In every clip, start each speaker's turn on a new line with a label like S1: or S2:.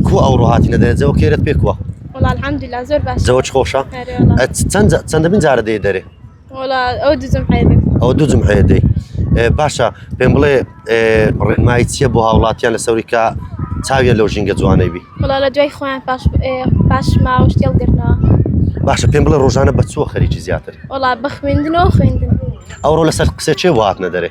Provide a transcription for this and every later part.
S1: کو ئەوڕۆ هاتینە دەێ جەوە کێرت پێ کووە الحمدلا
S2: زۆر باش جەوە خۆشە
S1: چەند چەند من جارە دێ دەێ ئەو
S2: دوزم ئەو دوزم هەیە دەی
S1: باشە پێم بڵێ ڕێنمایی چییە بۆ هاوڵاتیان لە سەوریکە چاویە لەو ژینگە جوانەی بی لە دوای خۆیان پاش
S2: پاش ماوەش تێڵگرنەوە باشە پێم
S1: بڵێ ڕۆژانە بە چوە خەریکی زیاتر وڵا بە خوێندنەوە
S2: خوێندن ئەوڕۆ لەسەر
S1: قسە چێ وهاتنە دەێ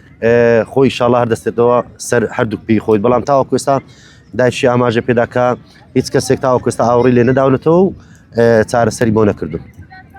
S1: خۆی ئیشاڵا هەر دەستێتەوە سەر هەردوو پێی خۆی بەڵام تاوەکو ئێستا دایشی ئاماژە پێداکە هیچ کەسێک تاوەکوستا ئاوڕی لێ نەداونەتەوە و چارەسەری بۆ نەکردو